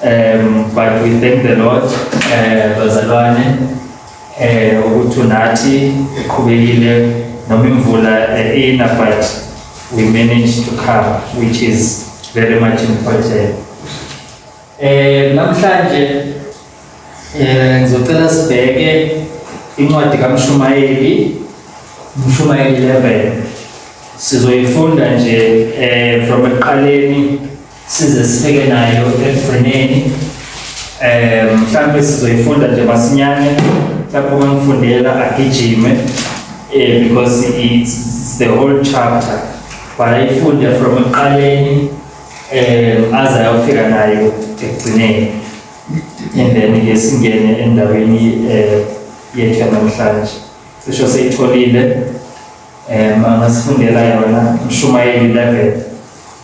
Um, but we thank the Lord eh, bazalwane eh ukuthi unathi uqhubekile noma imvula eh, ina but we managed to come which is very much important. Eh namhlanje eh ngizocela sibheke incwadi kaMshumayeli Mshumayeli 11 sizoyifunda nje eh from eqaleni size sifike nayo ekugcineni um mhlawumbe sizoyifunda nje masinyane mhlawumbe uma ngifundela agijime um because it's the whole chapter but ayifunde from ekuqaleni um aze ayofika nayo ekugcineni and then ke singene endaweni um yethu yanamhlanje cisho seyitholile um angasifundela yona mshumayeli 11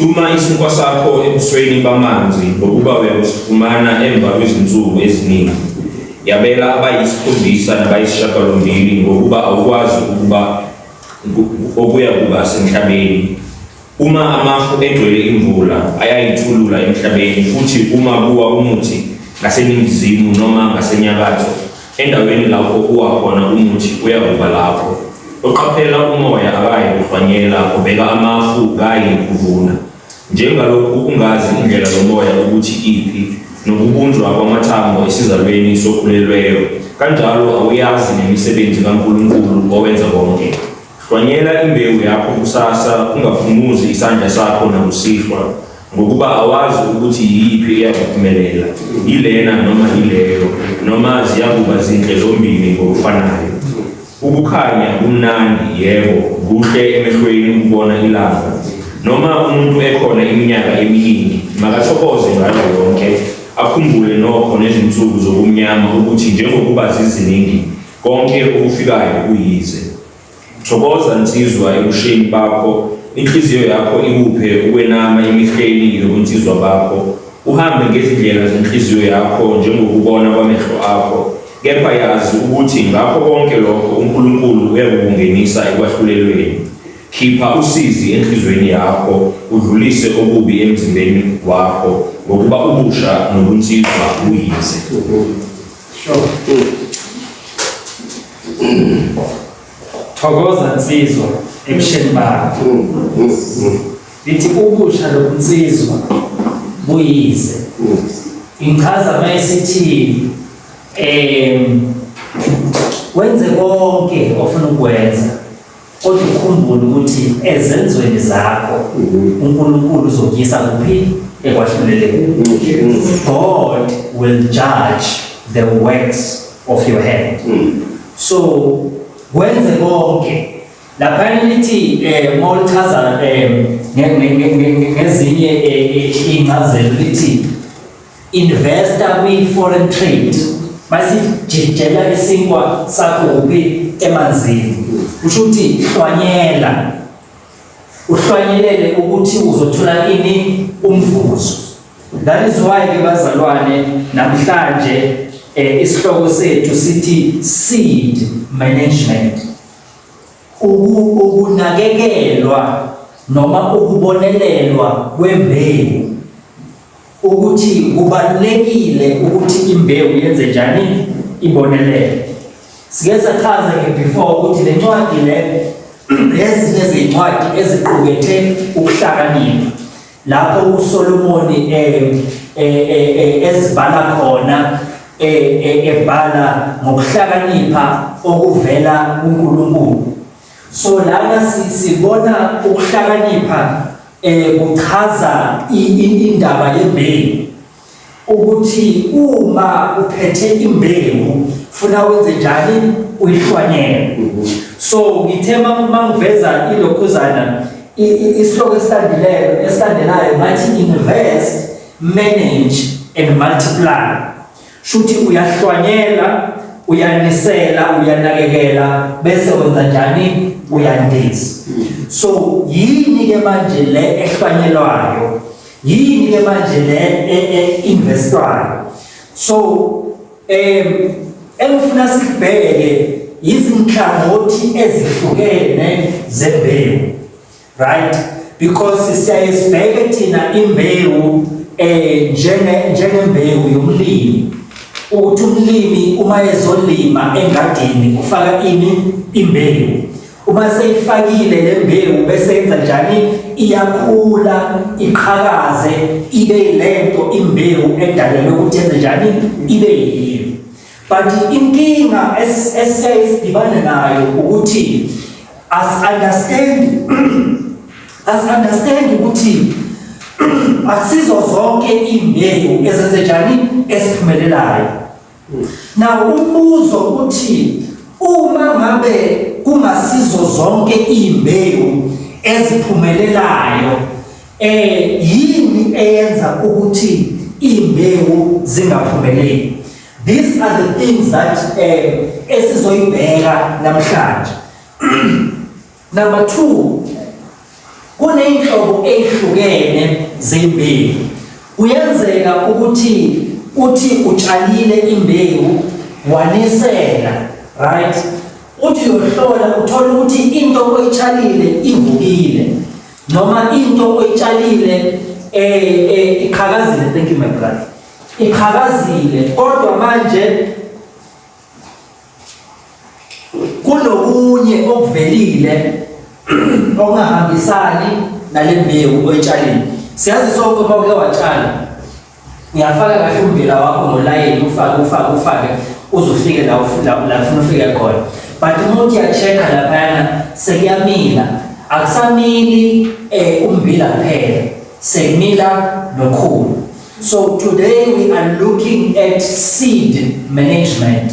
Thuma isinkwa sakho ebusweni bamanzi ngokuba uyakufumana emva kwezinsuku eziningi. Yabela abayisikhombisa nabayisishagalombili ngokuba awukwazi ukuba okuya kuba senhlabeni. Uma amafu egcwele imvula ayayithulula emhlabeni futhi uma kuwa umuthi ngaseningizimu noma ngasenyakatho endaweni lapho kuwa khona umuthi uyakuba lapho. Oqaphela umoya akayi kuhlwanyela ubheka amafu kayi kuvuna. Njengalokhu ukungazi indlela yomoya ukuthi iphi nokubunjwa kwamathambo esizalweni sokhulelweyo kanjalo awuyazi nemisebenzi kaNkulunkulu owenza konke. Hlwanyela imbewu yakho kusasa, ungaphumuzi isandla sakho nakusihlwa, ngokuba awazi ukuthi yiyiphi eyakuphumelela, yilena noma yileyo, noma ziyakuba zinhle zombili ngokufanayo. Ukukhanya kumnandi, yebo, kuhle emehlweni ukubona ilanga. Noma umuntu ekhona iminyaka eminingi, makathokoze ngayo yonke, akhumbule nokho nezinsuku zobumnyama ukuthi njengokuba ziziningi, konke okufikayo kuyize. Thokoza nsizwa ebusheni bakho, inhliziyo yakho ikuphe ukwenama emihleni yobunsizwa bakho. Uhambe ngezindlela zenhliziyo yakho njengokubona kwamehlo akho, kepha yazi ukuthi ngakho konke lokho uNkulunkulu uyakukungenisa ekwahlulelweni. Khipha usizi enhliziyweni yakho, udlulise okubi emzimbeni wakho, ngokuba ubusha nobunsizwa buyize. Sure. Thokoza nsizwa ebusheni bakho. Lithi ubusha lobunsizwa buyize. Ingichaza mayisithi em wenze konke ofuna ukwenza. Kodwa ukhumbule ukuthi ezenzweni zakho mhm. uNkulunkulu uzokuyisa kuphi ekwahluleleni. Mhm. God will judge the works of your hand. Mhm. So wenze konke lapha lithi eh mawuchaza eh ngezinye eh, eh, incazelo lithi investor kwi foreign trade basijijela isinkwa sakuphi emanzini usho ukuthi hlwanyela uhlwanyelele ukuthi uzothola ini umvuzo that is why ke bazalwane namhlanje eh, isihloko sethu sithi seed management ukunakekelwa noma ukubonelelwa kwembewu ukuthi kubalulekile ukuthi imbewu yenze njani ibonelele. Sike sachaza nge-before ukuthi le ncwadi le ezinye zezincwadi eziqukethe ukuhlakanipha lapho uSolomoni eh, eh, eh, ezibhala khona ebhala ngokuhlakanipha okuvela kuNkulunkulu. So lana sibona ukuhlakanipha eh kuchaza indaba yembewu ukuthi uma uphethe imbewu funa wenze njani uyihlwanyele mhm. so ngithe mangiveza ilokhuzana isihloko esilandileyo esilandelayo ngathi invest manage and multiply Shuthi uyahlwanyela, uyanisela, uyanakekela bese wenza njani? Uyandiza. So yini ke manje le ehlwanyelwayo? Yini ke manje le e, e, investwayo? So em engifuna sikubheke izinhlangothi ezihlukene zembewu right because siyaye sibheke thina imbewu eh njenge njengembewu yomlimi ukuthi umlimi uma ezolima engadini ufaka ini imbewu uma seyifakile le mbewu bese yenza njani iyakhula iqhakaze ibe lento imbewu edalelwe ukuthi yenze njani ibe yiyo but inkinga esiyayidibana nayo ukuthi as understand as understand ukuthi akusizo zonke imbewu ezenze njani esiphumelelayo na umbuzo ukuthi uma ngabe kungasizo zonke imbewu eziphumelelayo Eh yini eyenza ukuthi imbewu zingaphumeleli? These are the things that eh esizoyibheka namhlanje. Number 2 kuneyinhlobo ezihlukene zembewu. Kuyenzeka ukuthi uthi utshalile imbewu wanisela right uthi uyohlola uthole ukuthi into oyitshalile ivukile noma into oyitshalile eh, eh iqhakazile thank you my brother iqhakazile kodwa manje kunokunye okuvelile okungahambisani nale mbewu oyitshalile siyazi sonke uma uke watshala Uyafaka kahle umbila wakho ngolayini ufake ufake ufake uze ufike la ufuna ufike khona. But uma uthi uya-check-a laphayana sekuyamila, akusamili um umbila kuphela, sekumila nokhulu. So today we are looking at seed management.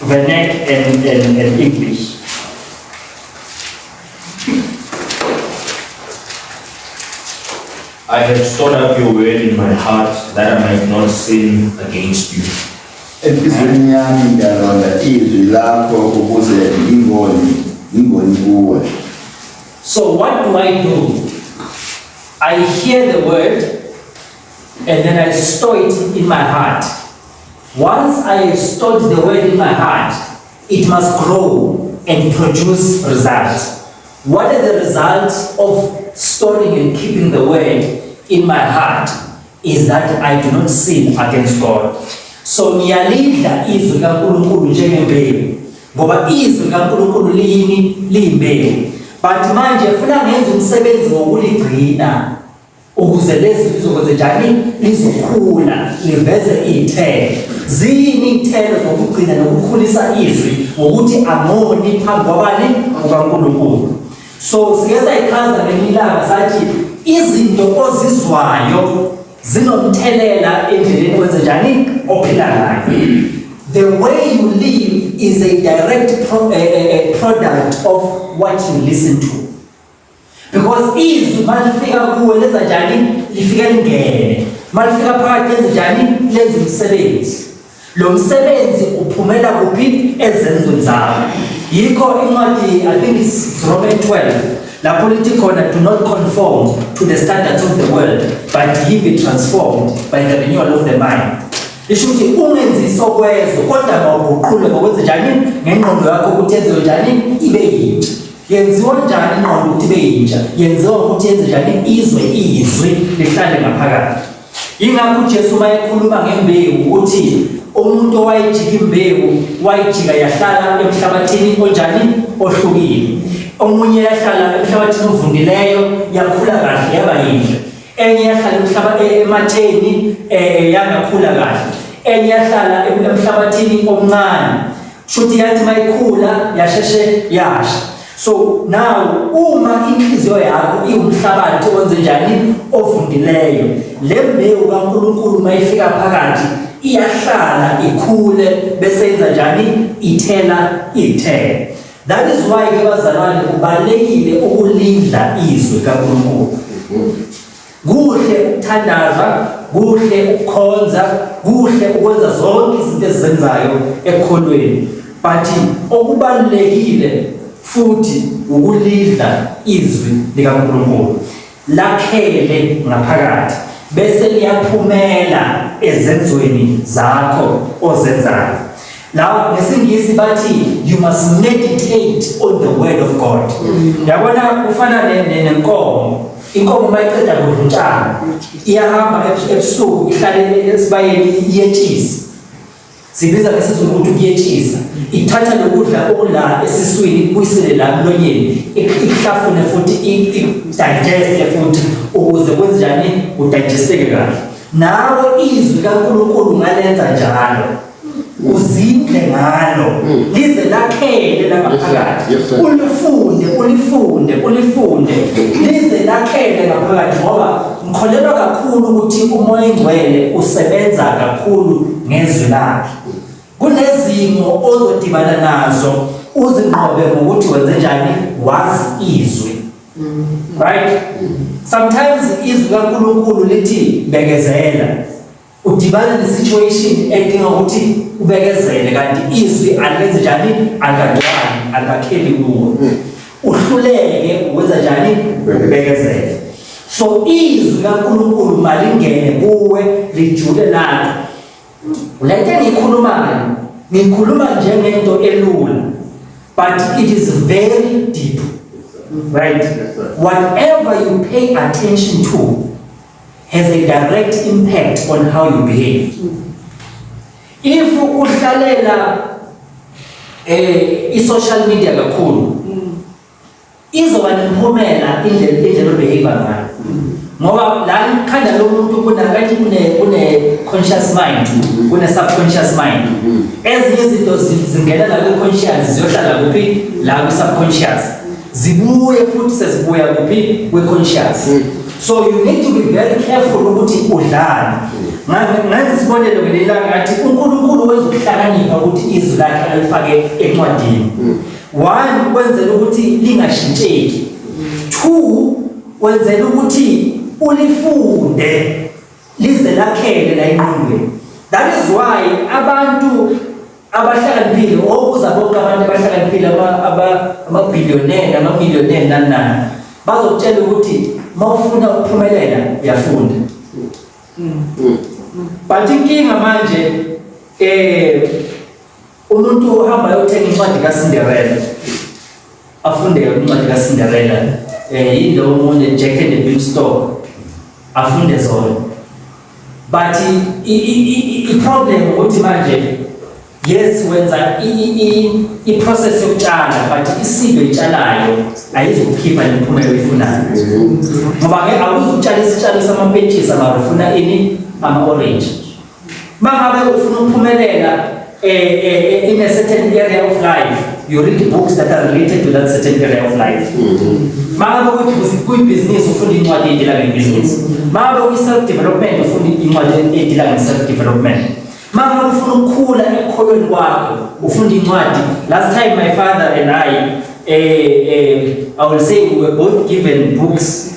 The neck and, and, and English. I have stored up your word in my heart that I might not sin against you. Enhliziyweni yami ngiyalonda izwi lakho ukuze ngingoni ngingoni kuwe. So what do I do? I hear the word and then I store it in my heart. Once I have stored the word in my heart, it must grow and produce results. What are the results of storing and keeping the word in my heart? Is that I do not sin against God. So ngiyalidla izwi kaNkulunkulu njengembewu ngoba izwi kaNkulunkulu liyini liyimbewu. But manje funa ngenza umsebenzi wokuligcina ukuze lezi lizokwenzenjani lizokhula liveze iy'thelo ziyini iy'thelo zokugcina nokukhulisa izwi ngokuthi amoni phambi kwabani kukankulunkulu so sike sayichaza ngemilanga sathi izinto ozizwayo zinomthelela endleleni kwenzenjani ophila ngayo the way you live is a direct pro, uh, uh, product of what you listen to because izwi malifika kuwe lenza njani lifike lingene malifika phakathi lenza njani lenza umsebenzi lo msebenzi uphumela kuphi ezenzweni zakho yikho incwadi i think is roman 12 lapho lithi khona do not conform to the standards of the world but ye be transformed by the renewal of the mind isho ukuthi ungenzisa okwezo kodwa mawuguqule ngokwenze njani ngengqondo yakho ukuthi enziwe njani ibe yintsha yenziwa njani ingqondo ukuthi ibe yintsha yenziwa ukuthi yenze njani izwe izwi lihlale ngaphakathi yingakho ujesu uma ekhuluma ngembewu ukuthi umuntu owayijika imbewu wayijika yahlala emhlabathini onjani ohlukile omunye yahlala emhlabathini ovundileyo yakhula kahle yaba yinhle enye yahlala emhlaba e-, ematheni eh, eh, yangakhula kahle enye yahlala emhlabathini omncane Shuthi yathi mayikhula yasheshe yasha. So now uma inhliziyo yakho iwumhlabathi owenze njani ovundileyo le mbewu kaNkulunkulu mayifika phakathi iyahlala ikhule bese yenza njani ithela ithela that is why ke bazalwane kubalekile ukulindla izwi kaNkulunkulu Kuhle ukuthandaza, kuhle ukukhonza, kuhle ukwenza zonke izinto ezenzayo ekukholweni. But okubalulekile futhi ukulidla izwi likaNkulunkulu. Lakhele ngaphakathi bese liyaphumela ezenzweni zakho ozenzayo. Now ngesingisi bathi you must meditate on the word of God. Mm. Yabona ufana nenkomo. Inkomo mayiqeda kudla utshani iyahamba ebusuku ihlalele esibayeni iyetshisa. Sibiza ngesizulu ukuthi kuyetshisa. Ithatha lokudla okula esiswini kuyisele la mlonyeni ihlafune futhi idigeste futhi ukuze kwenzenjani udigesteke kahle. Nawo izwi kaNkulunkulu ngalenza njalo. uzindle ngalo mm. lize lakhele langaphakathi ulifunde ulifunde ulifunde mm. lize lakhele ngaphakathi ngoba ngikholelwa kakhulu ukuthi umoya engcwele usebenza kakhulu ngezwi lakhe kunezimo ozodibana nazo uzinqobe ngokuthi wenze njani wazi izwi mm. right sometimes izwi kaNkulunkulu lithi bekezela udibana ne-situation edinga ukuthi ubekezele kanti izwi alenze njani alikancwani alikakheli kuwo uhluleke ukwenza njani ubekezele so izwi kankulunkulu malingene kuwe lijule lakho le nto engiyikhulumayo ngikhuluma njengento elula but it is very deep right whatever you pay attention to has a direct impact on how you behave if uhlalela eh i social media kakhulu izoba nemphumela indlela indlela obehave ngayo ngoba la ikhanda lomuntu kunakathi kune kune conscious mind kune subconscious mind ezinye izinto zingena la ku conscious ziyohlala kuphi la ku subconscious zibuye futhi sezibuya kuphi kwi-conscious hmm. so you need to be very careful ukuthi udlani hmm. ngaze sibonele ngelelanga ngathi unkulunkulu wenza ukuhlakanipha ukuthi izwi lakhe alifake encwadini hmm. one wenzela ukuthi lingashintsheki two wenzela ukuthi ulifunde lize lakhele la ingqondweni that is why abantu abahlakaniphile okuza bonke abantu abahlakaniphile amabhiliyoneni amamiliyoneni nanani bazokutshela ukuthi uma ufuna ukuphumelela uyafunda but inkinga manje um umuntu uhamba yothenga incwadi kasinderela Afunde incwadi kaCinderella eh yilo omunye Jack and the Beanstalk afunde zona but i-problem ukuthi manje yes wenza i-process yokutshala but isilo itshalayo ayizokukhipha nemiphumela oyifunayo ngoba-ke awuzukutshala isitshalo samapentshisi amaro funa ini ama-orange Mangabe ufuna ukuphumelela eh, eh, eh, in a certain area of life, you read books that are related to that certain area of life. Mm-hmm. Mangabe kuyibhizinisi ufunda incwadi edila ngebhizinisi. Mangabe kuyi-self development ufunda incwadi edila nge-self development. Mangabe ufuna ukukhula ekukholweni kwakho ufunda incwadi. Last time my father and I, eh, eh, I will say we were both given books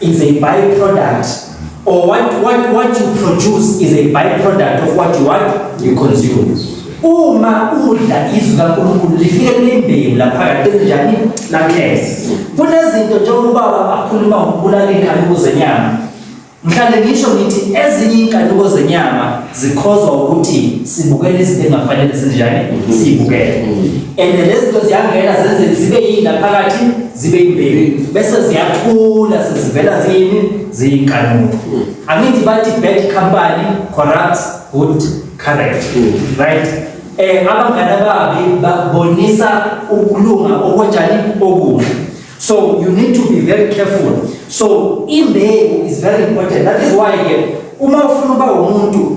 It's a byproduct or what, what, what you produce is a byproduct of what you want you consume uma udla izwi kaNkulunkulu lifike limbewu laphakathi ezinjani lakhesi kunezinto njengoba akhuluma ngokubulala inkanuko zenyama ngihlale ngisho ngithi ezinye inkanuko zenyama zikhozwa ukuthi sibukele izinto engafanele sinjani sibukele and lezi zinto ziyangena zenze zibe yini laphakathi zibe yimbewu bese ziyathula sezivela zini ziyinkanuko hmm. angithi bathi bad company corrupts good character hmm. right eh abangane babi babonisa ukulunga okwenjani okuhle so you need to be very careful so imbewu is very important that is why ke uma ufuna uba umuntu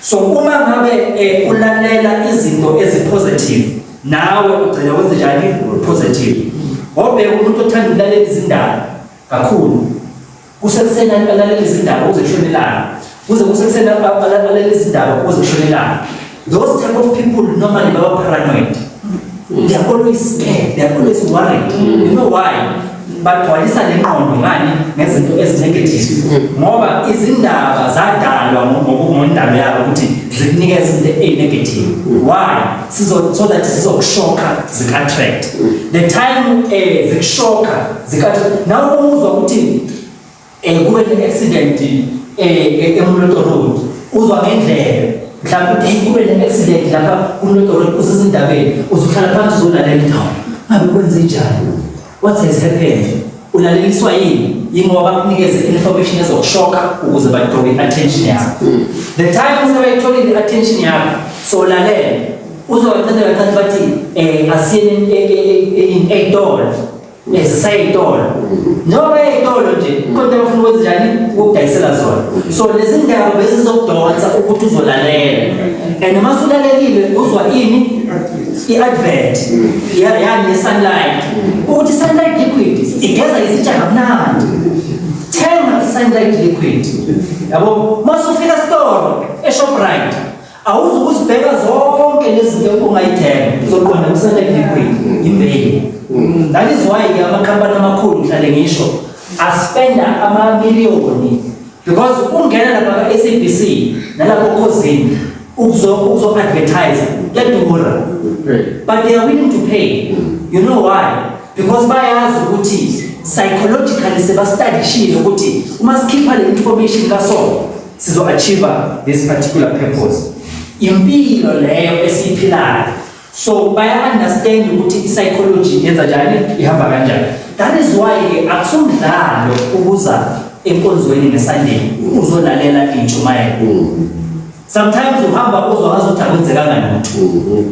so uma ngabe eh, ulalela izinto ezipositive nawe ugcina wenze njani positive ngobe umuntu othanda ukulalela izindaba kakhulu kusekuseni alalela izindaba uze kushonelana kuze kusekuseni alalela izindaba uze kushonelana those type of people normally baba paranoid they are always scared they are always worried mm. you know why bagcwalisa le ngqondo ngani ngezinto ezinegative ngoba izindaba zadalwa ngondaba yabo ukuthi zikunikeza into eyinegative why sizo so that sizokushokha zika-attract the time um eh, zikushokha zika-attract nawe umuzwa ukuthi eh kube ne accident eh eMloto Road uzwa ngendlela mhlawumbe ukuthi kube ne accident lapha kuMloto Road usizindabeni uzohlala phansi uzolalela indawo ngabe kwenze njani what has happened ulaleliswa yini yingoba bakunikeze information ezokushoka ukuze bathole i-attention yakho hmm. the time usebeyitholile i-attention yakho so lalela uzowacela kancane bathi um asiyeni eyitolo ezisayitolo noma eyitolo nje kodwa ufuna ukwenza njani ukudayisela zona so lezi ndawo bezizokudonsa ukuthi uzolalela and uma sulalekile uzwa ini i-advert yani ne-sunlight ukuthi sunlight liquid igeza izitsha kamnandi thenga i-sunlight liquid yabo uma sufika esitolo eshoprite awuzukuzibheka zonke lezinto ongayithenga uzoqonda kusele liquid imbeli mm. that is why ke amakhampani amakhulu ngihlale ngisho aspenda amamiliyoni because ungena lapha ka-sabc nalapho khozini ukuzo-advertise kuyadura but they are willing to pay mm. you know why because bayazi ukuthi psychologically sebastadishile ukuthi uma sikhipha le information kasona sizo achieve this particular purpose impilo leyo esiphilayo so baya understand ukuthi psychology yenza njani ihamba kanjani that is why ke akusumdlalo ukuza enkonzweni ngesunday uzolalela intshumayelo sometimes uhamba uzokwazi ukuthi akwenzekanga lutho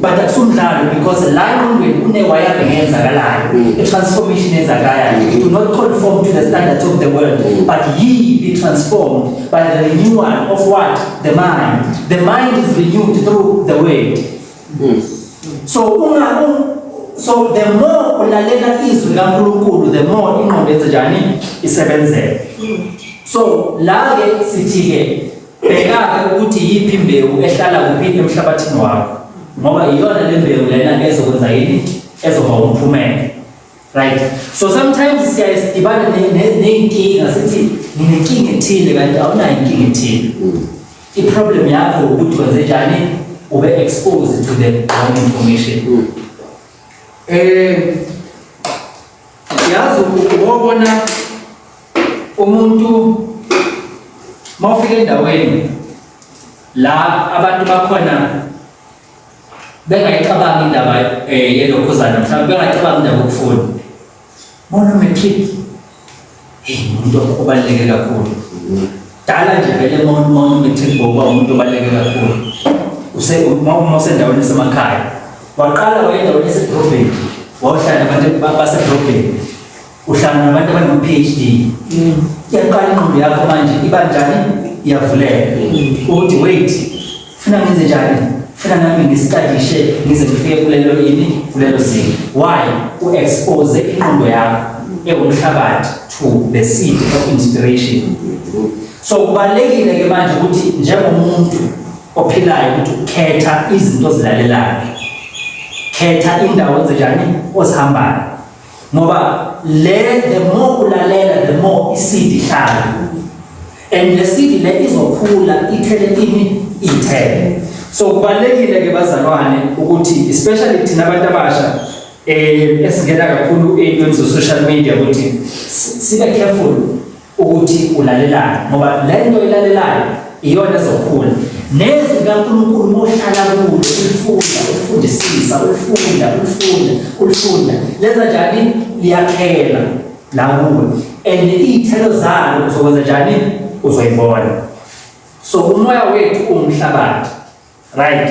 but akusumdlalo because la engqondweni kunewaya bengenzakalayo mm. i-transformation enzakalayo mm. do not conform to the standards of the world mm. but ye be transformed by the renewal of what the mind the mind is renewed through the word so unga so the more ulalela izwi kaNkulunkulu the more ingqondo yenze njani isebenzeke so la ke sithi ke Bheka-ke ukuthi yiphi imbewu ehlala kuphi emhlabathini wakho, ngoba iyona le mbewu lena ezokwenza yini, ezoba umphumela. Right? So sometimes siyaye sidibane ne- ne- ney'nkinga sithi nginenkinga ethile kanti awunayo inkinga ethile. I-problem yakho ukuthi wenze njani ube exposed to the wrong information. Eh yazi ubona umuntu mawufika endaweni la abantu bakhona bengayicabangi indaba eh, yelokhuzana mhlawumbe bengayicabangi indaba yokufunda bona matric hey umuntu obaluleke kakhulu dala nje vele uma matric ngokuba umuntu obaluleke kakhulu uma usendaweni esemakhaya waqala wayendaweni esedorobheni wawuhlala abantu basedorobheni uhlangana nabantu abano-phd iyaqala mm. inqondo yakho manje iba njani iyavuleka mm. ukuthi wait funa ngenze njani funa nami ngisitadishe ngize ngifike kulelo yini kulelo zinga why u-expose inqondo yakho ewumhlabathi to the seed of inspiration so kubalulekile ke manje ukuthi njengomuntu ophilayo ukuthi ukhetha izinto ozilalelayo khetha indawo enzenjani ozihambayo ngoba le the more ulalela the more isidi ihlala and le sidi le izokhula ithele kimi ithele so kubalekile ke bazalwane ukuthi especially thina abantu abasha eh esingena kakhulu eyintweni zo social media ukuthi sibe careful ukuthi ulalelani ngoba le nto ilalelayo iyona ezokhula nezwi likaNkulunkulu mohlala kulo ulifunda ulifundisisa ulifunda ulifunda ulifunda lenza njani liyakhela la kuwe and iy'thelo zalo uzokwenza njani uzoyibona so umoya wethu uwumhlabathi right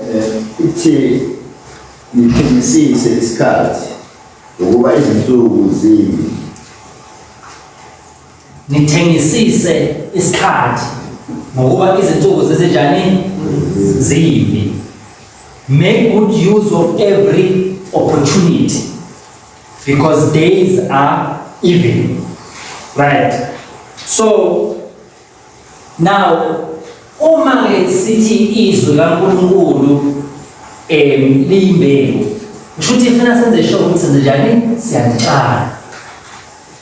Eh, ithi niphimisise isikhathi ngokuba izinsuku zini nithengisise isikhathi ngokuba izinsuku zizinjani zimbi make good use of every opportunity because days are evil right so Now uma ke sithi izwi laNkulunkulu em liyimbewu kusho ukuthi ifuna senze sure ukuthi senze njani siyalitshala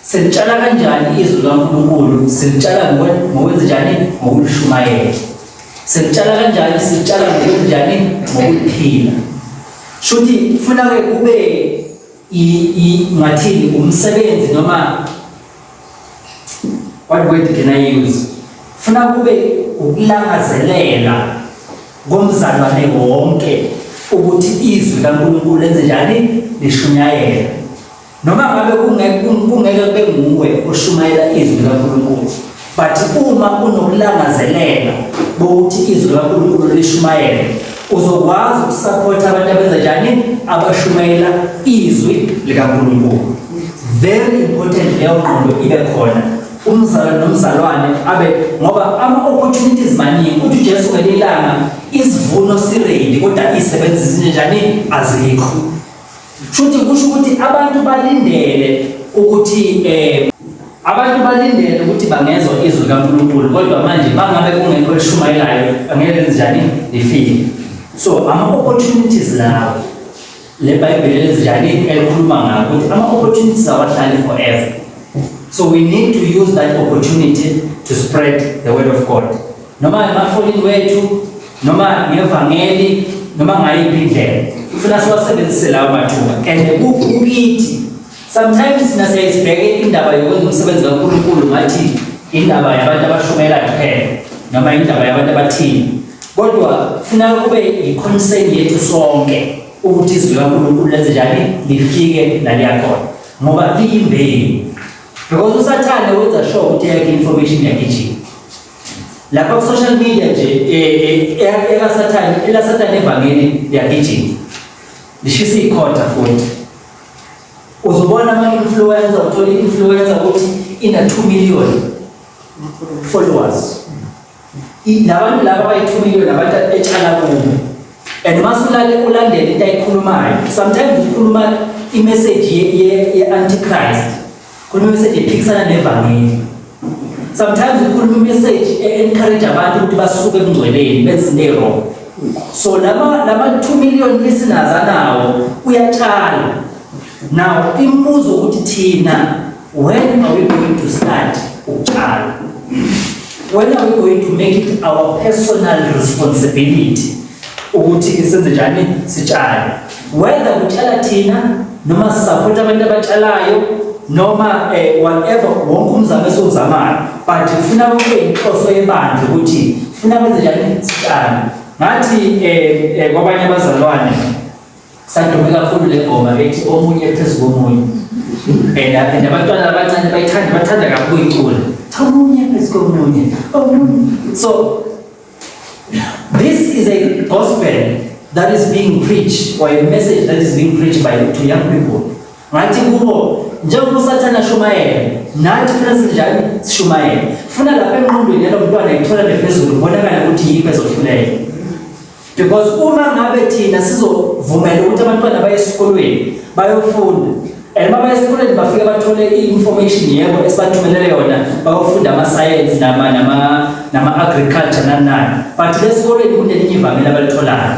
silitshala kanjani izwi laNkulunkulu silitshala ngokwenza njani ngokulishumayela silitshala kanjani silitshala ngokwenza njani ngokuliphila shuthi funa ke kube ngathini umsebenzi noma what word can I use funa kube ukulangazelela komzalwane wonke ukuthi izwi kaNkulunkulu lenze njani lishunyayela noma ngabe kungeke kube nguwe oshumayela izwi kaNkulunkulu but uma unokulangazelela bokuthi izwi likaNkulunkulu lishumayele uzokwazi ukusupport abantu abenza njani abashumayela izwi likaNkulunkulu very important leyo ngqondo ibe khona umzalwane nomzalwane abe ngoba ama opportunities maningi uthi uJesu ngelilanga isivuno sirendi kodwa isebenzi zinjani azikho Shuthi kusho ukuthi abantu balindele ukuthi eh abantu balindele ukuthi bangezwa izwi likaNkulunkulu kodwa manje bangabe kungekho elishumayelayo angeke lenzenjani lifike so ama-opportunities lawo le bhayibheli elenzenjani elikhuluma ngawo ukuthi ama-opportunities awahlali forever so we need to use that opportunity to spread the word of god noma emafonini wethu noma ngevangeli noma ngayiphi indlela ufuna siwasebenzise lawo mathuba and kukithi sometimes thina siyayisibheke indaba yokwenza umsebenzi kankulunkulu ngathi indaba yabantu abashumela kuphela noma indaba yabantu abathile kodwa funa kube yi-concern yethu sonke ukuthi izwi likankulunkulu lenze njani lifike laliyakhona ngoba liyimbewu because usathane wenza sure ukuthi yakhe information yakhe ijini lapha ku social media nje eh, eh, ela sathane ela sathane evangeli liyagijima lishisa ikhotha futhi uzobona ama influencer uthola influencer ukuthi ina 2 million followers labantu laba bayi 2 million abantu etshala kubo and masulale ulandele into ayikhulumayo sometimes ukhuluma i message ye ye antichrist Khona message ephikisana nevangeli. Sometimes ukhuluma message encourage abantu ukuthi basuke ekungcweleni benze into wrong. So lama lama 2 million listeners anawo uyatshala. Now imibuzo ukuthi thina when are we going to start ukutshala? When are we going to make it our personal responsibility ukuthi senze njani sitshale? whether kutshala thina noma sisaphote abantu abatshalayo noma eh, whatever wonke umzamo esiwuzamayo but funa kube inhloso yebandla ukuthi funa kwenze njani sitshale ngathi eh, eh, kwabanye abazalwane sadume kakhulu le ngoma bethi omunye phezu komunye and and abantwana abancane bayithanda bathanda kakhulu icula cha omunye phezu komunye so This is a gospel that is being preached or a message that is being preached by to young people. Ngathi kubo njengoba usathane ashumayele nathi funa sinjani sishumayele. Funa lapha emqondweni yalo mntwana ithola lephezulu kubonakala ukuthi yiphi ezohluleka. Because uma ngabe thina sizovumela ukuthi abantwana baye esikolweni bayofunda And uma esikoleni bafike bathole i-information yebo esibathumelele yona bayofunda ama-science nama nama nama-agriculture nanani but lesikoleni kunelinye ivangeli abalitholayo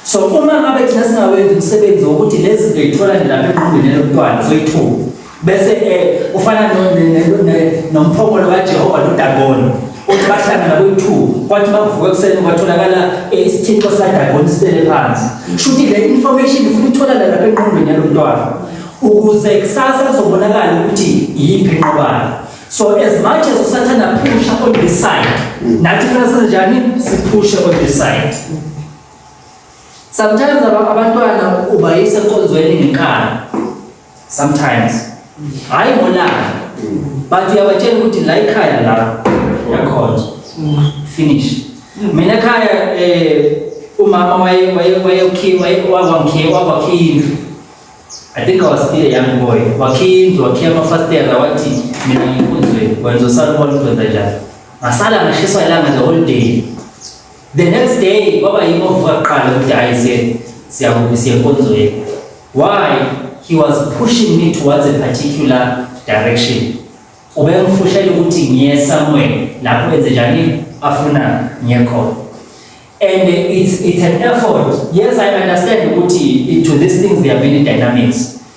so uma ngabe thina singawenzi umsebenzi wokuthi lezi zinto yithola nje lapha enqondweni yomntwana zoyithuka bese um ufana nomphongolo kajehova nodagoni Uthi bahlangana kuyi-two kwathi bavuka ekuseni kwatholakala eh, isithixo sadagoni sibele phansi. Shuthi le information ufuna itholakala lapha enqondweni yalo mntwana ukuze kusasa kuzobonakala ukuthi yiphi enqobayo. So as much as usathanda phusha on this side, nathi funa senze njani? Siphushe on this side. Sometimes aba- abantwana ubayisa enkonzweni ngenkani. sometimes hayi ngolaka but uyabatshela ukuthi la ikhaya la yakhona finish mina ekhaya eh umama waye waye waye ukhiwa waye wangikhiwa wakhiya indlu I think I was still a young boy. Wakhiya wakhiya amafasitela wathi mina ngikunzwe wenza usalubona ukwenza njani. Ngasala ngashiswa ilanga the whole day. The next day baba yimo vuka kuqala ukuthi hayi siye siyakubi siye nkonzweni. Why he was pushing me towards a particular direction. Ubengifusha ukuthi ngiye somewhere lapho enze njani afuna ngiye khona. And it's it's an effort. Yes I understand ukuthi to these things there are many dynamics.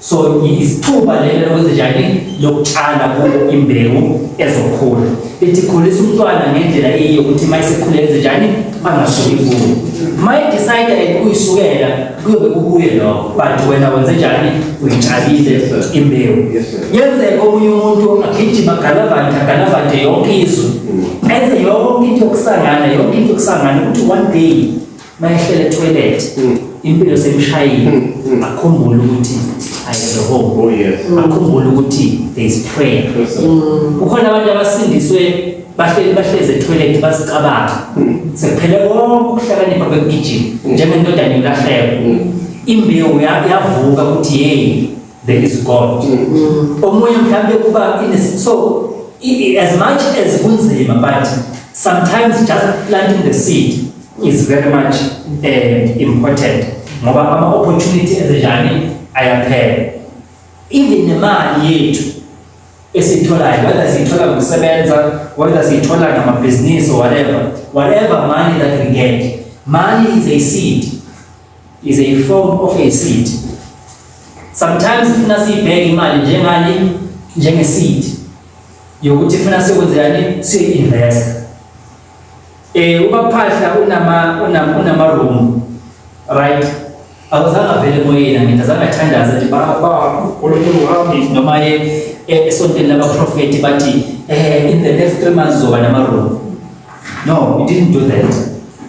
So isithuba lelo lokwenza njani lokutshala kubo imbewu ezokhula. Ithi khulisa umntwana ngendlela eyiyo ukuthi uma esekhule enze njani angasuki kuwo. Uma edecide and uyisukela kuyobe kukuye lokho but wena wenze njani uyitshalile imbewu. Yenzeka omunye umuntu agijima galavante galavante yonke izwe enze yonke into yokusangana yonke into yokusangana ukuthi one day mayehlela etoilet mm. impilo semshayile mm, mm. akhumbule ukuthi ayeze home oh yes akhumbule ukuthi there is prayer kukhona abantu abasindiswe bahleli bahleze etoilet bazicabanga sekuphele konke ukuhlakanipha kwegijima njengentodana yolahleko imbewu yavuka ukuthi yeyi there is God mm. omunye mhlawumbe kuba so as much as kunzima but sometimes just planting the seed is very much uh, important ngoba ama opportunity ezenjani ayaphela even nemali yethu esitholayo whether siyithola ngokusebenza whether siyithola ngamabhizinisi or whatever whatever money that we get money is a seed is a form of a seed. Sometimes funa siyibheke imali njengani njenge seed yokuthi funa sikwenzekani si invest. Eh ubaphahla unama unama unama room right awuzange avele moyeni ngithi azange athandaze nje baba uNkulunkulu wami noma ye eh, esontweni labaprofeti bathi eh in the next 3 months zoba nama room No, he didn't do that.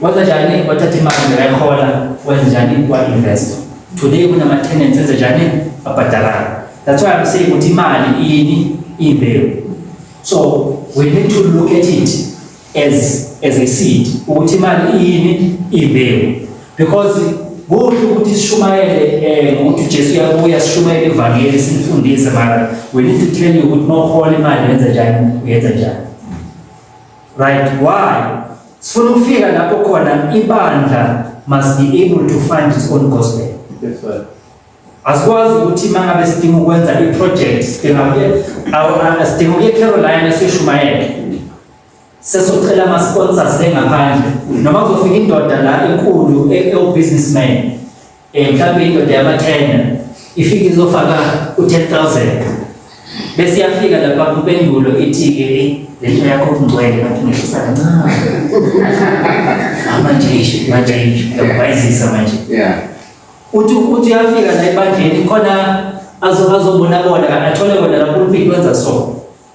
Waza njani wathatha imali ngayikhola wenza njani wa invest. Today kunama tenants enza njani abhadalana. That's why I'm saying ukuthi imali ini imbewu. So we need to look at it as as a seed ukuthi imali ini imbewu because Kuhle ukuthi sishumayele eh ukuthi Jesu uyabuya sishumayele ivangeli simfundise mara we need to tell you ukuthi mawuhola imali yenza njani uyenza njani Right, why? Sifuna ukufika lapho khona ibandla must be able to find its own gospel. Yes, sir. Asikwazi ukuthi uma ngabe sidinga ukwenza i-project sidinga ukuye awu- a- sidinga ukuye Carolina sishumayele. Sesocela ama-sponsors le ngaphandle noma kuzofika indoda la enkulu e- ewu-businessman Eh mhlawumbe indoda yamathenda ifike izofaka u-10000 bese iyafika lapha kumpendulo ithi-ke le nto yakho kungcwele ngathi ngehlisa kancane manje isho manje isho yakubayizisa manje yeah uthi uthi uyafika la ebandleni khona azobona bona athole bona lapho uliphi wenza so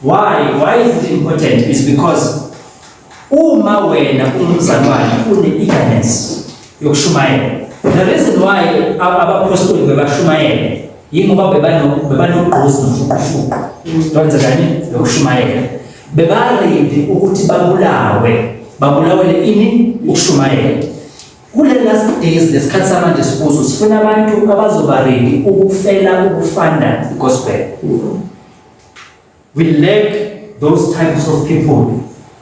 Why? Why is it important? Is because uma wena ungumzalwane une-eagerness yokushumayela the reason why abaphostoli bebashumayela yingoba bebanogqozi nofuqufuqu lonze kanye lokushumayela bebaredi ukuthi babulawe babulawele ini ukushumayela kule last days lesikhathi samanje sikuzo sifuna abantu abazobaredi ukufela ukufanda igospel We lack those types of people.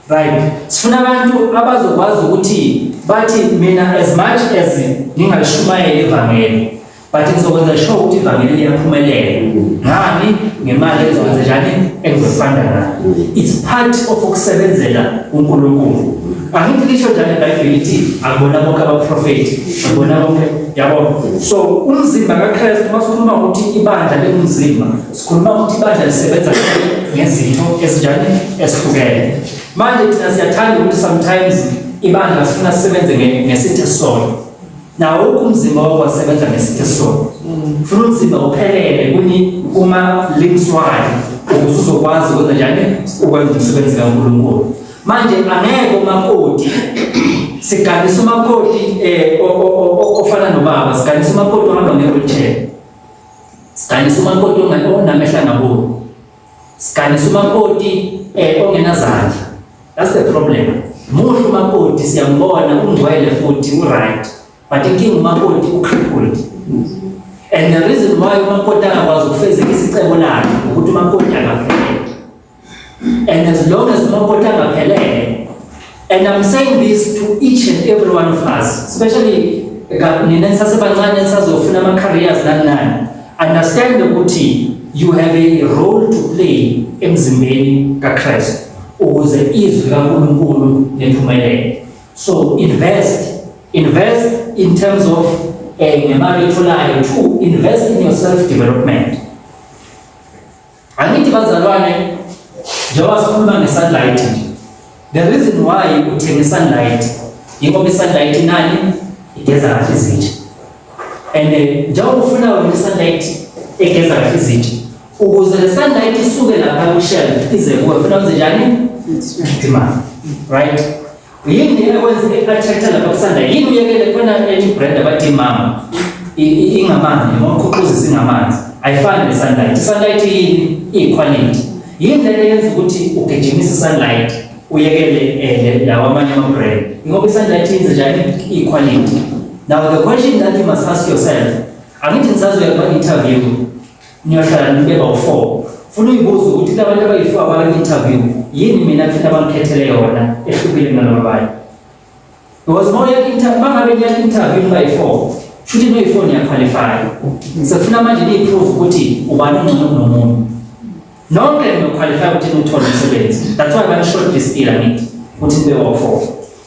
Right. Sifuna abantu abazokwazi ukuthi bathi mina as much as ngingashumayela ivangeli but ngizokwenza sure ukuthi ivangeli liyaphumelela. Ngani ngemali ezokwenza njani engizofanda nayo. It's part of ukusebenzela uNkulunkulu. Angithi lisho njani iBhayibheli ithi akubona bonke abaprofeti, akubona bonke yabo. So umzimba kaKristu masikhuluma ukuthi ibandla lengumzimba Sikhuluma ukuthi ibandla lisebenza ngezinto ezinjani ezihlukene. Manje thina siyathanda ukuthi sometimes ibandla sifuna sisebenze ngesithe sona. Nawo umzimba wakho wasebenza ngesithe sona. Funa umzimba uphelele kuni uma limswayo ukuze uzokwazi ukwenza njani ukwenza umsebenzi kaNkulunkulu. Manje angeke umakoti siganisa umakoti eh ofana nobaba siganisa umakoti ohamba nge-wheelchair Siganisa umakoti onamehla ngaboni. Siganisa umakoti eh ongenazandla. That's the problem. Muhle umakoti siyambona ungcwele futhi uright. But inkinga umakoti ucrippled. And the reason why umakoti angakwazi ukufezekisa icebo lakhe ukuthi umakoti akapheli. And as long as umakoti angaphelele, and I'm saying this to each and every one of us, especially nina nisasebancane nisazofuna ama-careers nani nani, understand ukuthi you have a role to play emzimbeni kaKristu ukuze izwi kaNkulunkulu liphumelele. So invest, invest in terms of eh, ngemali etholayo to invest in your self development. Angithi bazalwane njengoba sikhuluma nge-sunlight nje the reason why uthenge i-sunlight yingoba i-sunlight inani igeza kahle izitsha and eh, njengoba ufuna wena i-sunlight egeza kahle izitsha ukuze le sunlight isuke lapha kwi-shelf ize kuwe funa wenze njani? Imali right Yini yena kwenza i-attract lapha kusanda yini uyekele khona ethi brand abathi mama ingamanzi noma ukhuquzisa ingamanzi ayifani ne-sunlight i-sunlight yini iyikhwalithi yini lento yenza ukuthi ugijimise i-sunlight uyekele um lawa amanye ama-brand ingoba i-sunlight yenze njani iyikhwalithi now the question that you must ask yourself angithi ngisazoya kuma-interview Ngiyohlala nibeka u-four. Funa uyibuza ukuthi labantu abayi-four abaka-interview yini mina kufanele bangikhethele yona ehlukile kunalaba abanye. Because uma uya-inter uma ngabe niya-interview nibayi-four shuthi noyi-four niyakhwalifaya. Sekufuna manje niyi-prove ukuthi ubani ongcono kunomunye. Nonke niyokhwalifaya ukuthi niwuthole umsebenzi. That's why bani-short list ila nithi ukuthi nibe wa-four.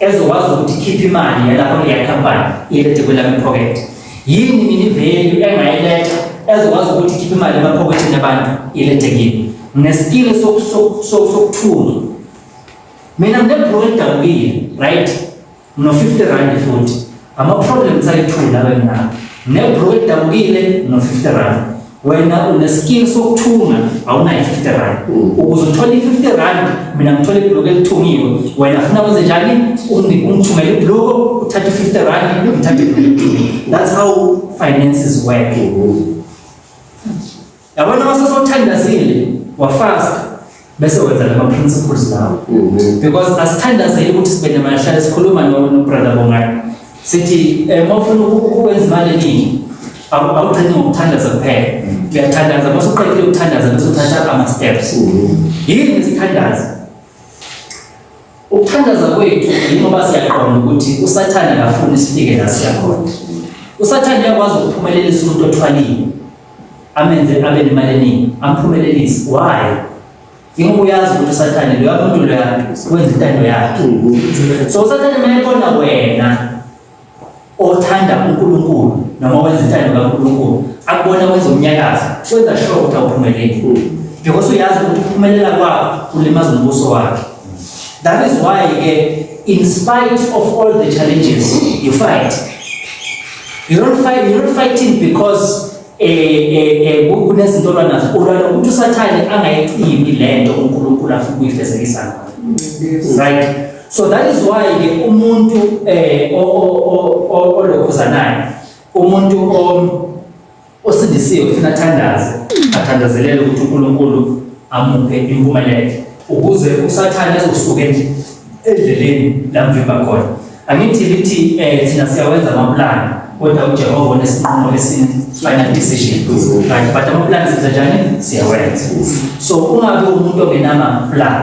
ezokwazi ukuthi ikhiphe imali yalapho kuleya company ilethe kwelami pocket yini mina ivalue engayiletha ezokwazi ukuthi ikhiphe imali emaphokethini abantu ilethe kimi ngesikile sokuthula mina nginebroke edabukile right no 50 rand futhi Ama-problems ayi-two lawe nawo nebro edabukile no-fifty rand wena uneskill sokuthunga awunayo i-fifty rand ukuze uthole i-fifty rand mina ngithole ibhuluku elithungiwe wena funa kwenze njani ungithumele ibhuluku uthathe i-fifty rand ngithathe ibhuluku that's how finances work Yabona uma sesothandazile wafasta bese wenza lama principles lawo. Mhm. Because asithandazile ukuthi sibe namahlale sikhuluma no brother Bongani. Sithi eh mawufuna ukwenza imali eningi awugcini ngokuthandaza kuphela. Mhm. Uyathandaza bese uqedile ukuthandaza bese uthatha ama steps. Mhm. Yini isithandazo? Ukuthandaza kwethu yingoba siyaqonda ukuthi uSathane akafuni sifike la siyakhona. USathane uyakwazi ukuphumelelisa umuntu othwalile amenze abe nemali eningi amphumelelise. Why? Yingoba uyazi ukuthi uSathane loya muntu loya wenza intando yakhe. So uSathane uma ebona wena othanda uNkulunkulu noma wenza intando kaNkulunkulu akubona wenza umnyakazo wenza sure ukuthi awuphumeleli because uyazi ukuthi ukuphumelela kwakho kulimaza umbuso wakhe that is why ke in spite of all the challenges you fight you don't fight you don't fighting because kunezinto olwanazo ulwala ukuthi usathane angayicimi le nto unkulunkulu afuna ukuyifezekisa ngayo right So that is why ke umuntu eh olokhuzanayo umuntu osindisiwe ufuna thandaze athandazelele ukuthi uNkulunkulu amuphe impumelelo ukuze usathane ezosuke nje endleleni lamvimba khona angithi lithi eh thina siyawenza amaplani kodwa uJehova unesinqumo esini final decision right but amaplani senza njani siyawenza so ungabe umuntu ongenama plan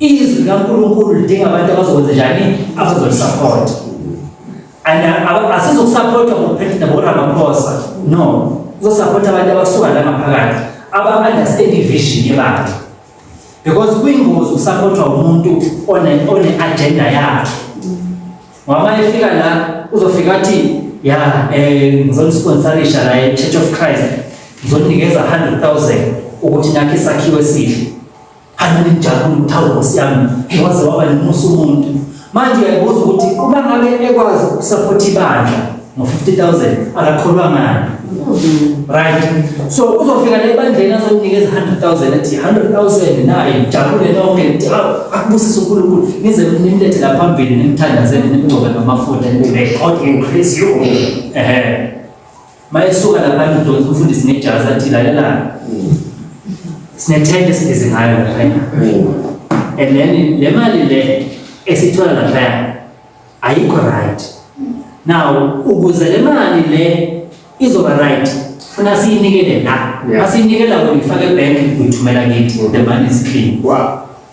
Izwi likaNkulunkulu lidinga abantu abazokwenza njani? Abazolisupport. Asizokusupport ngokuphethe naboRamaphosa. No. Uzosupport abantu abasuka la ngaphakathi. Aba-understand i-vision yebandla. Because kuyingozi ukusupportwa umuntu one-agenda yakhe. Ngoba uma efika la uzofika athi ya eh ngizonisponsalisha la e-Church of Christ. Ngizoninikeza 100,000 ukuthi nakhe isakhiwo esihle. Hambeni nijabule ukuthi awu Nkosi yami waze waba nomusa umuntu. Manje uyabuza ukuthi uma ngabe ekwazi ukusupport ibandla ngo-50,000 akakholwa ngani? Right. So uzofika la ebandleni azokunikeza 100,000 ethi 100,000 naye jabule nonke nithi awu akubusise uNkulunkulu nize nimlethe la phambili nimthandazele nimgcobe ngamafutha nithi may God increase you. Ehhe. Mayesuka lapha ngidonsa umfundisi ngejazi athi lalelana. Sinethende sibize ngayo lapha. And then le mali le esithola lapha ayikho right. Now ukuze le mali le izoba right funa siyinikele la. Asiyinikela uyifake bank uyithumela kithi. The money is clean. Wow.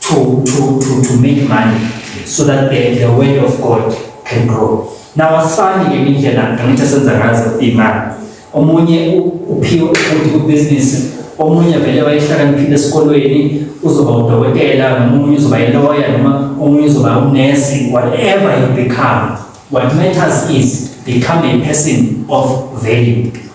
to, to, to, to make money so that the, the word of God can grow. Now asifani ke indlela ngithe senza ngazo imali. Omunye uphiwe ukuthi ku business, omunye vele wayehlakaniphile esikolweni uzoba udokotela, omunye uzoba iloya noma omunye uzoba unesi, whatever you become. What matters is become a person of value.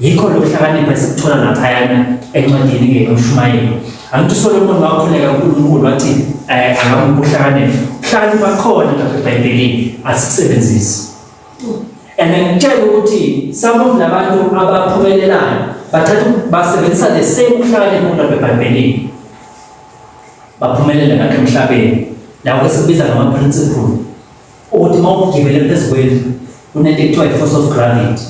Yikho lokuhlakanipha esikuthola laphayana encwadini ngenomshumayeli. Angithi uSolomoni wakhuleka uNkulunkulu wathi eh, angamuphi uhlakanipha. Uhlakanipha khona lapha eBhayibhelini asikusebenzisi. And ngitshela ukuthi some of labantu abaphumelelayo bathatha basebenzisa the same uhlakanipha lapha eBhayibhelini. Baphumelela ngakho emhlabeni. Lawo esikubiza ngama-principle ukuthi uma ugibele phezu kwendlu kunento ekuthiwa i-force of gravity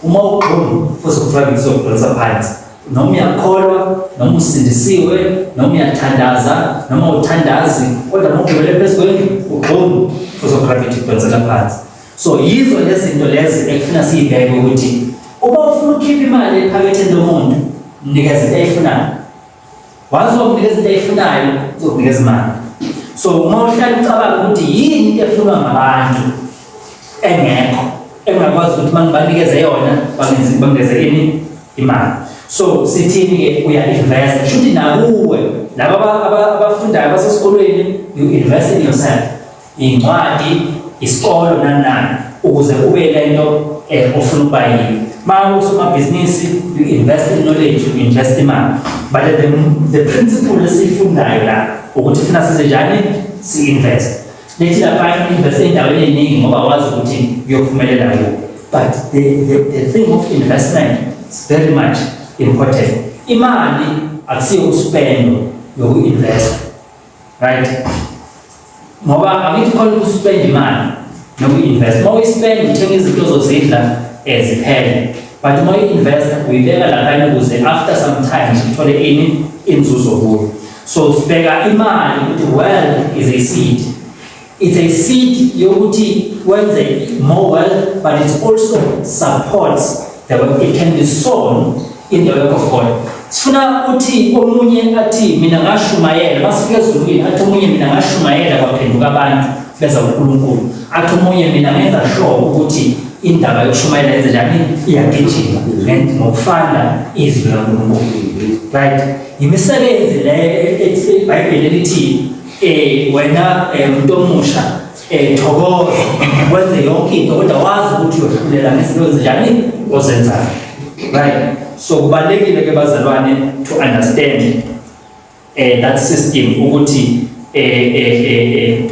uma ugxuma force of gravity izokudonsa phansi noma uyakholwa noma usindisiwe noma uyathandaza noma uthandazi kodwa uma ugibele phezu kwendlu ugxuma force of gravity idonsela phansi so yizo lezinto lezi ekufuna siyibheke ukuthi uma ufuna ukhipha imali ephaketheni lomuntu mnikeze into ayifunayo Once uzokunikeza into eyifunayo uzokunikeza imali. So uma uhlala ucabanga ukuthi yini into efunwa ngabantu engekho engakwazi ukuthi mangibanikeze yona bangenzi bangeze ini imali. So sithini ke uya invest. Shuthi nakuwe laba abafundayo basesikolweni you invest in yourself. Incwadi, isikolo nani nani ukuze kube yile nto eh, ofuna ukuba yini. Uma usomabhizinisi, you invest in knowledge, you invest imali. But the, the principle esiyifundayo la ukuthi funa size njani si-invest. Lethi lapha invest endaweni eningi ngoba wazi ukuthi uyophumelela kuyo. But the, the, the thing of investment is very much important. Imali akusiyo uspendo yoku-investa right ngoba angithi khona ukuspend imali noku-invest uma uyispend uthenga izinto zozidla eziphele eh, but uma uyi-invest uyibeka laphana ukuze after some time uthole ini inzuzo kuyo so sibheka imali ukuthi well is a seed It's a seed yokuthi wenze more wealth but it also supports the work. It can be sown in the work of God. Sifuna uthi omunye athi mina ngashumayela masifika ezulwini athi omunye mina ngashumayela kwaphenduka abantu beza uNkulunkulu. Athi omunye mina ngenza sure ukuthi indaba yokushumayela yenze njani iyagijima ngokufana izwi laNkulunkulu. Right? Yimisebenzi le ethi iBhayibheli elithi eh wena eh, umuntu omusha eh thokoza wenze yonke into kodwa wazi ukuthi uyokhulela ngezinto ezinjani ozenzayo right so kubalekile ke bazalwane to understand eh that system ukuthi eh eh eh,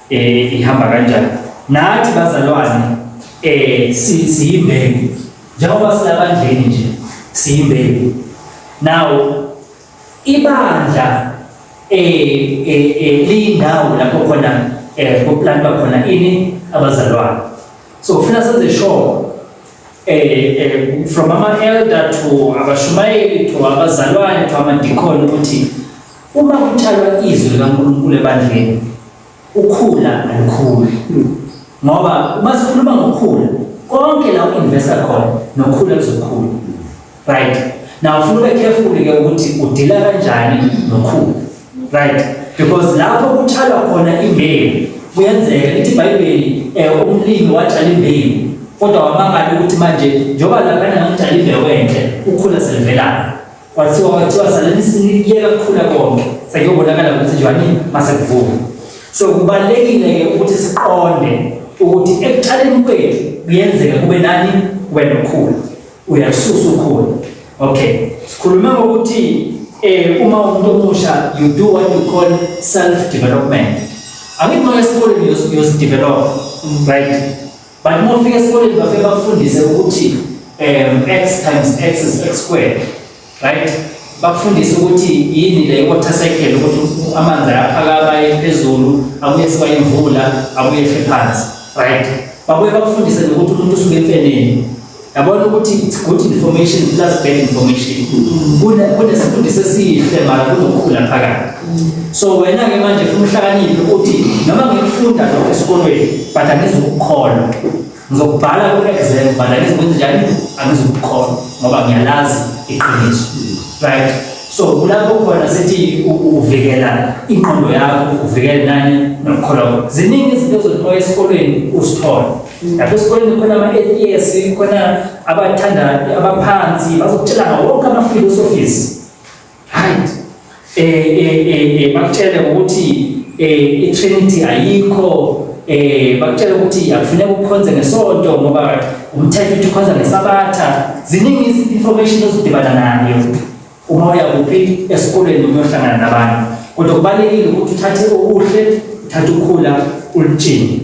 eh ihamba kanjani nathi bazalwane eh siyimbeki njengoba silabandleni nje siyimbeki now Ibandla eh, eh, eh liyindawo lapho khona eh kuplantwa khona ini abazalwane. So ufuna senze sure eh, eh from ama elder to abashumayeli to abazalwane to amadikoni ukuthi uma kutshalwa izwi likaNkulunkulu ebandleni ukhula alukhuli ngoba uma sikhuluma ngokhula konke la uinvesta khona nokhula kuzokhula right now ufuna ube careful ke ukuthi udila kanjani nokhula right because lapho kutshalwa khona imbewu kuyenzeka ithi ibhayibheli eh, umlimi watshala imbewu kodwa wamangala ukuthi manje njengoba lapha ngitshala imbewu enhle ukhula selivelana Kwathiwa kwathiwa salini sinikuyeka kukhula konke sekuyobonakala ukuthi njani masekuvuka. So kubalekile ke ukuthi siqonde ukuthi ekuqaleni kwethu kuyenzeka kube nani wena ukhula. Uyasusa ukhula. Okay. Sikhuluma ngokuthi eh uma umuntu omusha you do what you call self development. Angithi manje sikoleni yosi develop right But uma ufika esikoleni bafike bakufundise ukuthi um x times x is x squared right bakufundise ukuthi yini le water cycle ukuthi amanzi ayaphakama aye phezulu abuye siba imvula abuye ehle phansi right babuye bakufundise nokuthi umuntu usuke emfeneni yabona ukuthi it's good information plus bad information kunesifundisi esihle mara kunokhula phakathi so wena-ke manje funa uhlakaniphe ukuthi noma ngikufunda lokho esikolweni but angizukukholwa ngizokubhala ku-exam but angizukwenza njani angizukukholwa ngoba ngiyalazi iqiniso right so kulapho khona sithi uvikela ingqondo yakho uvikele nani nokukholwa ziningi izinto ezothiwa esikolweni uzithole lapha esikoleni kukhona ama-atheist kukhona abathanda abaphansi bazokutshela ngawo wonke ama-philosophies right um um bakutshele ngokuthi um i-trinity ayikho um bakutshele ukuthi akufuneka ukukhonze ngesonto ngoba umthetho uthi ukhonza ngesabatha ziningi i-information ozidibana nayo uma uya kuphi esikoleni uyohlangana nabantu kodwa kubalulekile ukuthi uthathe okuhle uthathe ukhula ulutshini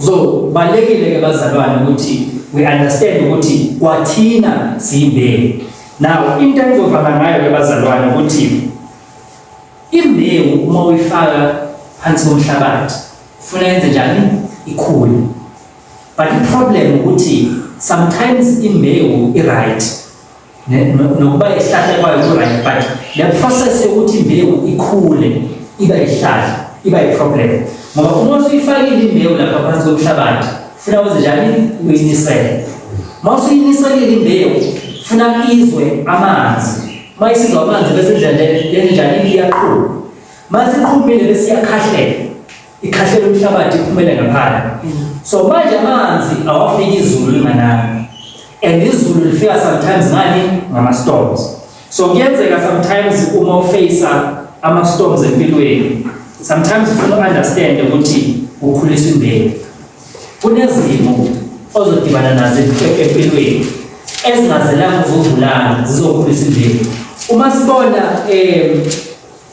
So balekile ke bazalwane ukuthi we understand ukuthi kwathina siyimbewu. Now into engizovala ngayo ke bazalwane ukuthi imbewu uma uyifaka phansi komhlabathi ufuna yenze njani ikhule. But the problem ukuthi sometimes imbewu i right nokuba isihlahla kwayo ku-right but le process yokuthi imbewu ikhule iba isihlahla iba i-problem ngoba uma usuyifakile imbewu lapha phansi komhlabathi funa wenze njani uyinisele uma usuyiniselile imbewu funa izwe amanzi uma isizwa amanzi bese indlela yenjani iyaqhuma uma siqhumile bese iyakhahlela ikhahlele umhlabathi iphumele ngaphandle so manje amanzi awafiki izulu linganani and izulu lifika sometimes ngani ngama-storms so kuyenzeka sometimes uma ufeyisa ama-storms empilweni sometimes ufuna u-understand ukuthi ukhulisa imbewu kunezimo ozodibana nazo empilweni ezingazelanga uzovulana zizokhulisa imbewu uma sibona um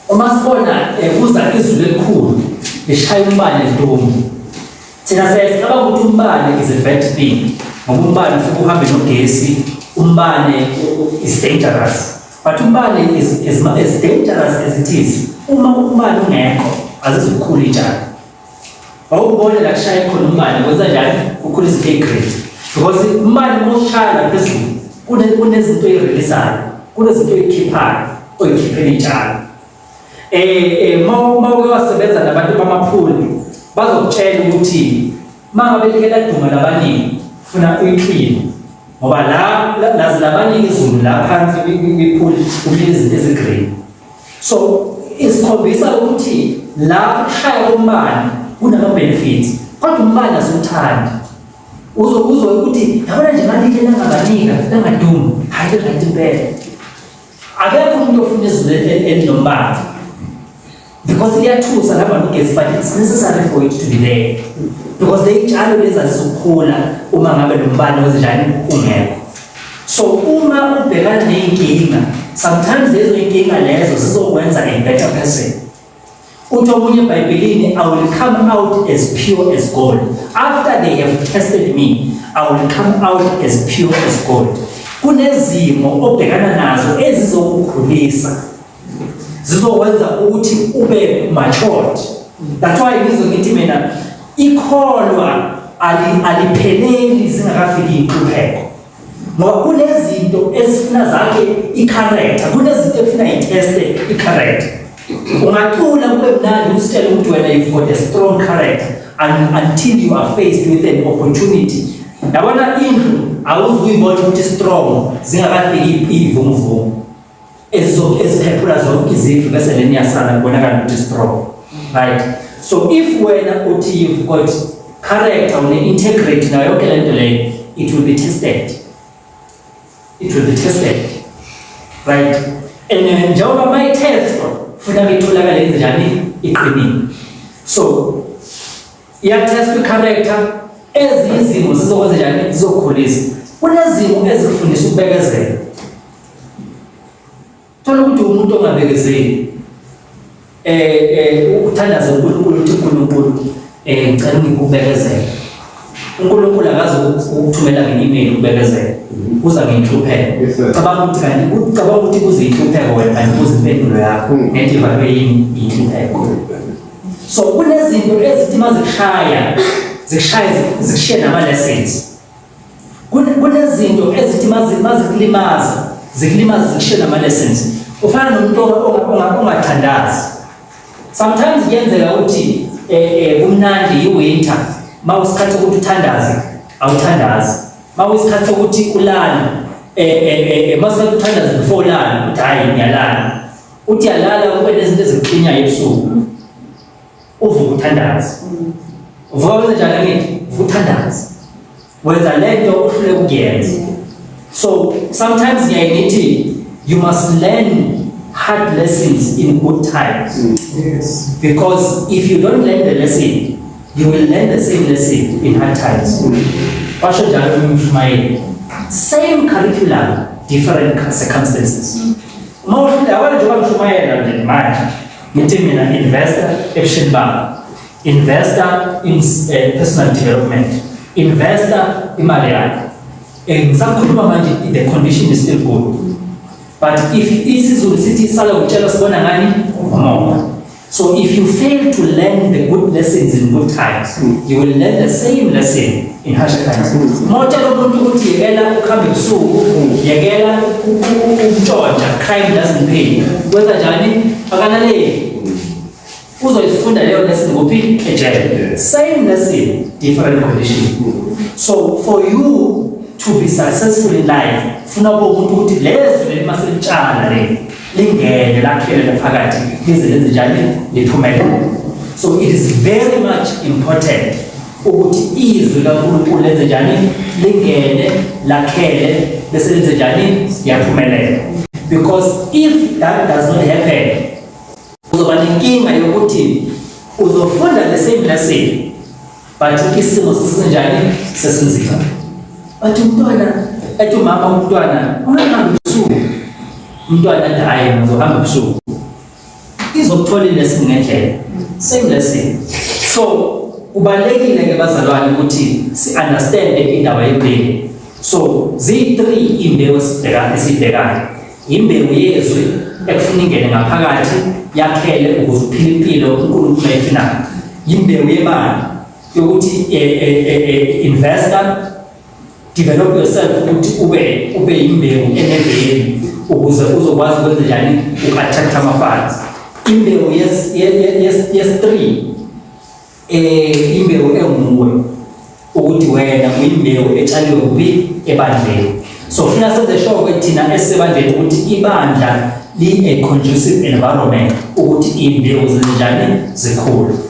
uma sibona ekuza eh, izulu elikhulu lishaya umbane ntombi thina siyacaba ukuthi umbane is a bad thing ngoba umbane ufike uhambe nogesi umbane is dangerous but umbane is, is, is dangerous as it is uma umbane ungekho azizukhulu itshalo Awubona la kushaya khona umbani kwenza njani ukhula izinto grade. Because imali uma ushaya la phezulu kune kunezinto ezireleasayo, kunezinto ezikhiphayo, oyikhiphela itshalo. Eh eh uma uma uke wasebenza nabantu bamaphuli bazokutshela ukuthi mangabe like laduma labaningi funa uyiclean ngoba la nazi labaningi izulu la phansi kwiphuli kuhlezi izinto ezigreen. so isikhombisa ukuthi la kushaya umbani kunama benefits kodwa umbani asiwuthandi uzokuzwa ukuthi yabona nje manje ke nangabanika nangadumu hayi right impela akekho umuntu ofuna izinto elinombani because iyathusa laba nogesi but it's necessary for it to be there because leyitshalo lezi azizukukhula uma ngabe lo mbani ozinjani ungekho So uma ubhekana ney'nkinga, sometimes lezo y'nkinga lezo zizokwenza a better person. Uthi omunye ebhayibhelini, I will come out as pure as gold. After they have tested me, I will come out as pure as gold. Kunezimo obhekana nazo ezizokukhulisa zizokwenza ukuthi ube matured that's why ngizwe ngithi mina ikholwa alipheleli zingakafiki inqubeko ngoba kunezinto ezifuna zakhe i-character kunezinto ekufuna iteste i-character ungacula kube mnandi usitshele ukuthi wena you've got a strong character until you are faced with an opportunity yabona indlu awuzuyibona ukuthi strong zingakafiki iyivumuvumu ezizophephula zonke izindlu bese leni yasala kubonakala ukuthi strong right so if wena uthi you've got character une-integrity nayo yonke le nto leyo it will be tested it will be tested right and uh, njengoba uma itestwa futhi akitholakale njani iqinile so iyatestwa i-character ezinye izimo zizokwenza njani zizokhulisa kunezimo ezikufundisa ukubekezela Thola ukuthi umuntu ongabekezeli eh eh uthandaza uNkulunkulu uthi uNkulunkulu eh ngicela ngikubekezele. uNkulunkulu akazi ukuthumela nge-email ukubekezela. Uza ngenhlupheko. Cabanga ukuthi kanti ucabanga ukuthi kuze inhlupheko wena kanti kuze impendulo yakho hmm. ngenxa ivalwe yini inhlupheko. So kunezinto ezithi mazikushaya zikushaya zikushiye nama lessons. kunezinto ezithi mazikulimaza zikulimaza zikushe nama-lessons ufana nomuntu ongathandazi sometimes kuyenzeka ukuthi um eh, eh, kumnandi yiwinter ma usikhathi sokuthi uthandaze awuthandazi ma usikhathi sokuthi ulale eh, um masikhathi uthandaze before ulale ukuthi hhayi ngiyalala uthi yalala kube nezinto ezikuqinyayo ebusuku uvuka uthandaze uvuka wenze njani ngithi uvuka uthandaze wenza le nto uhluleka ukuyenza so sometimes ngiyaye ngithi you must learn hard lessons in good times mm. yes. because if you don't learn the lesson you will learn the same lesson in hard times mm. washo njalo umshumayeli same curriculum different circumstances mm. uma uhluleka wena njengoba mshumayela nje manje Ngithi mina investor ebushini bami. Investor in eh, personal development. Investor imali yakho. Eh, ngisakhuluma manje the condition is still good. But if isiZulu sithi sala utshela sibona ngani umona. So if you fail to learn the good lessons in good times, you will learn the same lesson ihashe kanzulu motshela umuntu ukuthi yekela ukuhamba ebusuku yekela ukutshontsha crime doesn't pay kwenza njani akalaleli uzoyifunda leyo lesson kuphi ejele same lesson different condition so for you to be successful in life funa bo umuntu ukuthi lezi leli maselitshala le lingene lakhelele phakathi lize lenze njani liphumelele so it is very much important ukuthi izwi likaNkulunkulu lenze njani lingene lakhele bese lenze njani yaphumelela because if that does not happen uzoba nenkinga yokuthi uzofunda the same lesson but isimo sisenjani sesinzima but umntwana ethi umama umntwana ungahambi ubusuku umntwana athi hhayi ngizohamba ubusuku izokutholile singendlela same lesson so kubalekile ke bazalwane ukuthi si understand indaba yembewu so zi3 imbewu sibheka esibhekayo imbewu yezwi ekufuna ingene ngaphakathi yakhele ukuze uphile impilo uNkulunkulu ayifinayo imbewu yemali yokuthi eh, eh, eh, investor Develop yourself ukuthi ube ube imbewu eneveli ukuze uzokwazi ukwenza njani uku-attract ama-funds. Imbewu yes yes yes yes 3 eh imbewu enguwe ukuthi wena uyimbewu etshaliwe kuphi ebandleni. So funa senze sure ukuthi thina esebandleni ukuthi ibandla li a conducive environment ukuthi imbewu zinjani zikhulu.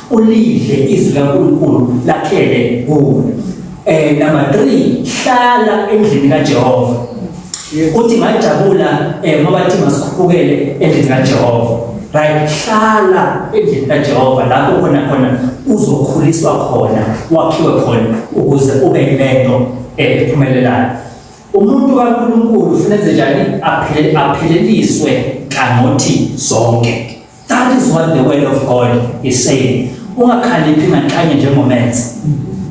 ulidle izwi laNkulunkulu lakhele kuwe eh number 3 hlala endlini kaJehova uthi ngajabula eh ngoba thi masikhuphukele endlini kaJehova right hlala endlini kaJehova lapho khona khona uzokhuliswa khona wakhiwe khona ukuze ube lento ephumelelayo umuntu kaNkulunkulu ufanele njani aphele apheleliswe kangothi zonke That is what the word of God is saying. Ungakhaliphi nganhlanye njengomenzi.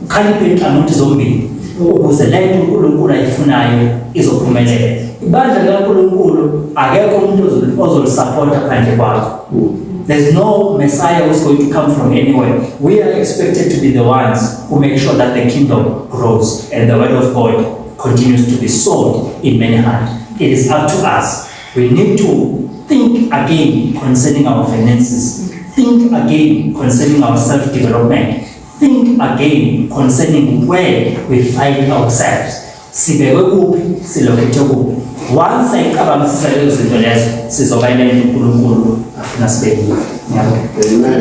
Khaliphe inhlangothi zombili ukuze le nto uNkulunkulu ayifunayo izophumelela. Ibandla likaNkulunkulu akekho umuntu ozolisupporta phandle kwakho. There's no Messiah who's going to come from anywhere. We are expected to be the ones who make sure that the kingdom grows and the word of God continues to be sold in many hands. It is up to us We need to think again concerning our finances. Think again concerning our self-development. Think again concerning where we find ourselves. Sibekwe kuphi, silokhethe kuphi. Once ayicabangisisa lezo zinto lezo, sizoba ile nto uNkulunkulu afuna sibe yiyo. Ngiyabonga.